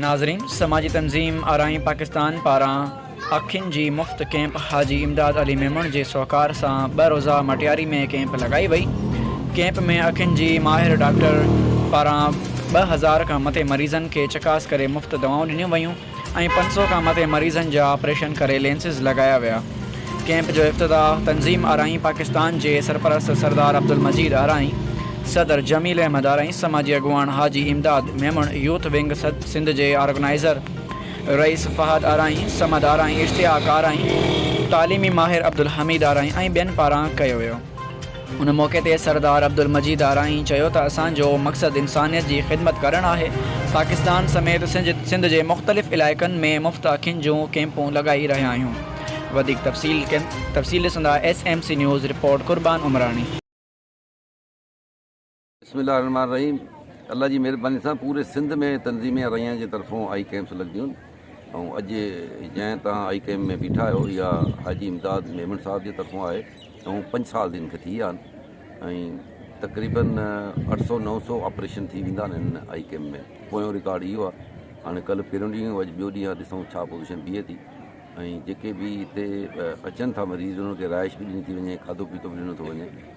ناظرين! سماجي تنظيم آرائين پاڪستان پاران اکين جي مفت ڪيمپ حاجي امداد علي ميمڻ جي سهڪار سان ٻه روزه مٽياري ۾ ڪيمپ لڳائي وئي. ڪيمپ ۾ اکين جي ماهر ڊاڪٽر پاران ٻه هزار کان مٿي مريضن کي چڪاس ڪري مفت دوائون ڏنيون ويون ۽ پنج سؤ کان مٿي مريضن جا آپريشن ڪري لينسز لڳايا ويا. ڪئمپ جو افتتاح تنظيم آرائين پاڪستان جي سرپرست سردار عبدالمجيد آرائين، صدر جميل احمد آرائين، سماجي اڳواڻ حاجي امداد ميمڻ، يوٿ ونگ سنڌ جي آرگنائيزر رئيس فهد آرائين، صمد آرائين، اشتياق آرائين، تعليمي ماهر عبدالحميد آرائين ۽ ٻين پاران ڪيو ويو. ان موقعي تي سردار عبدالمجيد آرائين چيو ته اسان جو مقصد انسانيت جي خدمت ڪرڻ آهي، پاڪستان سميت سنڌ جي مختلف علائقن ۾ مفت اکين جون ڪيمپون لڳائي رهيا آهيون وڌيڪ تفصيل ڏسندا S M C news report Qurban Umrani. بسم الله الرحمن الرحيم الله جي مھرباني سان پوري سنڌ ۾ تنظيم اريان جي طرفون آئي ڪيمپس لڳنديون ۽ اڄ جنهن تان آئي ڪيمپ ۾ بيٺا آهيو اها حاجي امداد ميمڻ صاحب جي طرفون آهي ۽ پنج سال دن کي ٿي ويا آهن تقريبن اٺ سو نو سو آپريشن ٿي ويندا آهن هن آئي ڪيمپ ۾ پويون رڪارڊ اهو آهي هاڻي ڪلهه پهريون ڏينهن اڄ ٻيو ڏينهن آهي ڏسون ڇا پوزيشن بيهي ٿي ۽ جيڪي به هتي اچن ٿا مريض انهن کي رهائش به ڏني ٿي وڃي کاڌو پيتو به ڏنو ٿو وڃي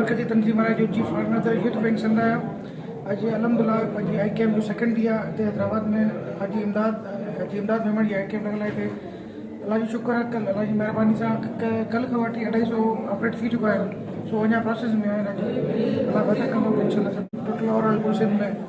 مرڪزي تنظيم آء جي chief organiser youth bank Sindh آهي اڄ الحمد الله پنهنجي آء ڪيمپ جو سيڪنڊ ڏينهن آهي هتي حيدرآباد ۾ حاجي امداد حاجي امداد ميمڻ جي آء ڪيمپ لڳل آهي الله جو شڪر آهي ڪل الله جي مهرباني سان ڪل کان وٺي اڍائي سو آپريٽ ٿي چڪا آهن سو اڃا پروسيس ۾ آهن الله بهتر ڪندو انشاء الله ٽوٽل اوور آل ڪل سنڌ ۾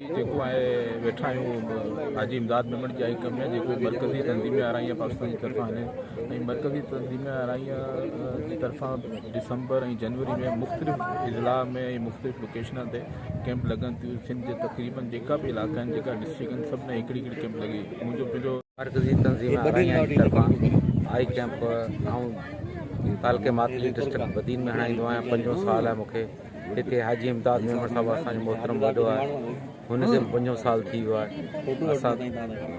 جيڪو آهي ويٺا آهيون حاجي امداد ميمڻ جي آئي ڪم ۾ جيڪو مرڪزي تنظيم آرائي پاڪستان جي طرفان آهي ۽ مرڪزي تنظيم آرائي جي طرفان ڊسمبر ۽ جنوري ۾ مختلف اضلاع ۾ ۽ مختلف لوڪيشن تي ڪيمپ لڳن ٿيون سنڌ جي تقريبن جيڪا به علائقا آهن جيڪا ڊسٽرڪ آهن سڀ ۾ هڪڙي هڪڙي ڪيمپ لڳي منهنجو پنهنجو مرڪزي تنظيم آرائي جي طرفان آئي ڪيمپ آئون تعلقي ماتلي ڊسٽرڪ بدين ۾ هڻائيندو آهيان پنجون سال آهي مونکي هتي حاجي امداد ميمڻ صاحب اسان جو محترم وڏو آهي هن کي به پنجون سال ٿي ويو آهي اسان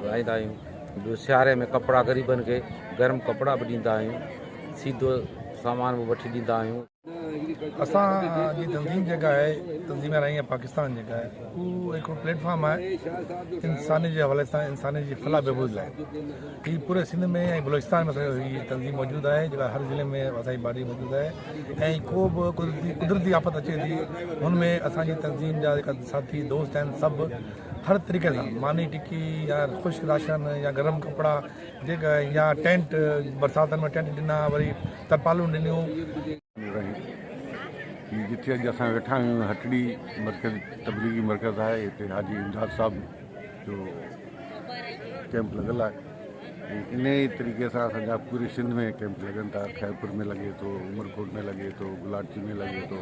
لائيندا آهيون ٻيو سياري ۾ ڪپڙا غريبن کي گرم ڪپڙا به ڏيندا آهيون سيڌو سامان به وٺي ڏيندا آهيون اسان جي تنظيم جيڪا آهي تنظيم رائين پاڪستان جيڪا آهي اهو هڪڙو پليٽ فارم آهي انساني جي حوالي سان انساني جي فلاح بهبود لاء هي پوري سنڌ ۾ ۽ بلوچستان ۾ اسان جي هي تنظيم موجود آهي جيڪا هر ضلعي ۾ اسان جي باڊي موجود آهي ۽ ڪو به قدرتي قدرتي آفت اچي ٿي ان ۾ اسان جي تنظيم جا جيڪا ساٿي دوست آهن سڀ هر طريقي سان ماني ٽڪي يا خوش راشن يا گرم ڪپڙا جيڪا يا ٽينٽ برساتن ۾ ٽينٽ ڏنا وري ترپالون ڏنيون رهي ٿي جتي اڄ اسان ويٺا آهيون هٽڙي مرڪز تبليغي مرڪز آهي هتي حاجي امداد صاحب جو ڪيمپ لڳل آهي ان ئي طريقي سان اسانجا پوري سنڌ ۾ ڪيمپ لڳن ٿا خيرپور ۾ لڳي ٿو عمرڪوٽ ۾ لڳي ٿو گلاچي ۾ لڳي ٿو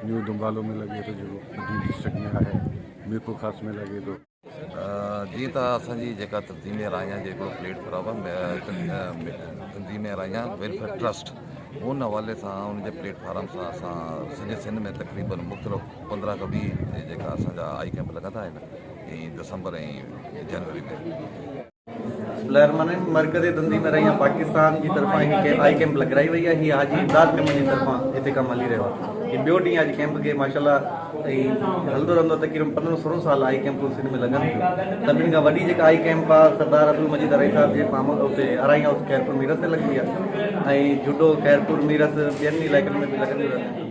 نيو دمبالو ۾ لڳي ٿو جيڪو ڊسٽرڪٽ ۾ آهي ميرپور خاص ۾ لڳي ٿو جيئن ته اسان جي جيڪا تنظيم رايان جو هڪڙو پليٽ فارم تنظيم رايان ويلفيئر ٽرسٽ ان حوالي سان ان جي پليٽ فارم سان اسان سڄي سنڌ ۾ تقريبن مختلف پندرهن کان ويهه جيڪا اسان جا آئي ڪيمپ لڳندا آهن ۽ دسمبر ۽ جنوري ۾ لهرمنين مرڪزي دندي ۾ رهيان پاڪستان جي طرفان هڪ آئي ڪيمپ لڳرائي وئي آهي هي حاجي امداد ميمڻ جي طرفان هتي ڪم هلي رهيو آهي هي ٻيو ڏينهن آهي ڪيمپ کي ماشاء الله ۽ هلندو رهندو تقريبن پندرهن سورهن سال آئي ڪيمپون سنڌ ۾ لڳن ٿيون سڀني کان وڏي جيڪا آئي ڪيمپ آهي سردار عبدل مجيد ارائي صاحب جي فارم اتي ارائي هائوس خيرپور ميرس ۾ لڳندي آهي ۽ جهوٽو خيرپور ميرس ٻين علائقن ۾ به لڳنديون رهنديون آهن